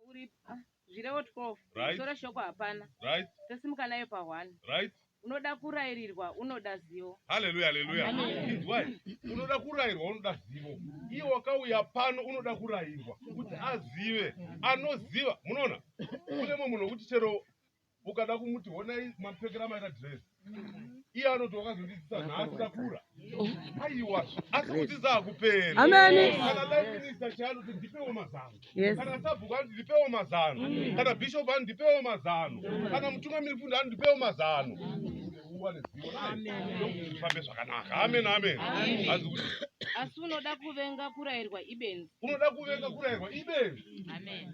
uripa zvirevo 12 right. soro shoko hapana right. tosimuka nayo pa 1 right. unoda kurairirwa unoda zivo haleluya haleluya inzwai unoda kurairwa unoda zivo iye wakauya pano unoda kurairwa kuti azive anoziva munoona kune mwe munhu wekuti chero ukada kumuti honai mamupfekera maita dress iye anoti wakazondidzisa nhasi takura aiwa asi kudzidza hakuperi kana life minister chaanoti ndipewo mazano kana sabhuku anoti ndipewo mazano kana bishop anoti ndipewo mazano kana mutungamiri fundo anoti ndipewo mazano fambe zvakanaka amen amen asi unoda kuvenga kurairwa ibenzi unoda kuvenga kurairwa ibenzi amen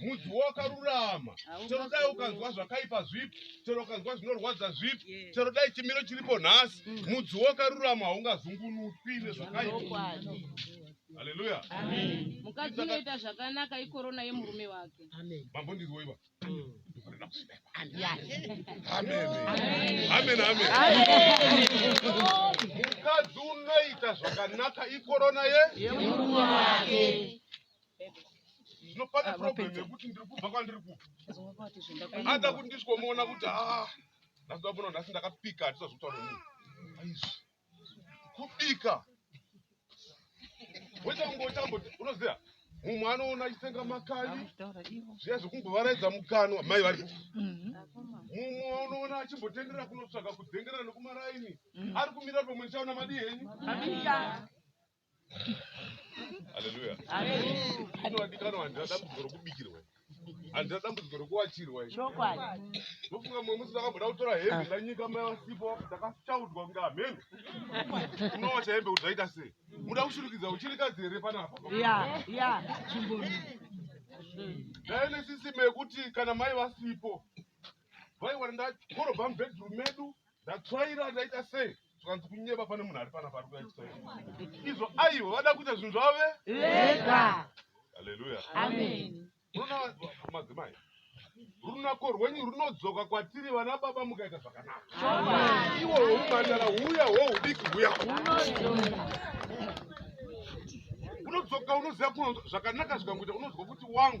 mudzi wakarurama chero dai ukanzwa zvakaipa zvipi chero ukanzwa zvinorwadza zvipi chero dai chimiro chiripo nhasi mm. mudzi wakarurama haungazungunutwi nezvakaipa haleluya mukadzi unoita zvakanaka ikorona yemurume wake mambo ndiriwoiva mukadzi unoita zvakanaka ikorona ye yemurume wake No, pane Ah, problem vapedza. yekuti ndiri kubva kwandiri kubva Azova vati ada zvendakaenda. kuti ndisikomuona kuti ah nhasi ndamuona nhasi ndakapika hatisazotaura munhu aizvi kubika woita kunge utambo unoziva mumwe anoona achitenga makali Vakutaura ivo. zviya zvekumbovaraidza mukanwa mai varipo Mhm. mumwe unoona achimbotenderera kunotsvaga kudzengerera nekumaraini ari kumira pamwe ndichaona madii henyu Haleluya. Inodikanwa handina dambudziko rokubikirwa. Handina dambudziko rokuwachirwa. Chokwadi. Ndofunga mumwe musi ndakamboda kutora hembe ndanyika mai vasipo ndakachaudwa kunge amen. Unowacha hembe kuti zvaita sei? Muda kushurikidza uchirikadzi here panapa? Ya, ya, chimboni. Ndaive nesisime yekuti kana mai vasipo vaiwana ndakorobha mubedroom medu Ndatsvaira ndaita sei zvikanzi kunyeba pane munhu ari pana pari kuyatsvaira izvo aivo vada kuita zvinhu zvavo ve vega haleluya amen unoona madzimai runako rwenyu runodzoka kwatiri vana baba mukaita zvakanaka iwo hwoumhandara huya hwohudiki huya unodzoka unoziva kuno zvakanaka zvikangoita unonzwa kuti wangu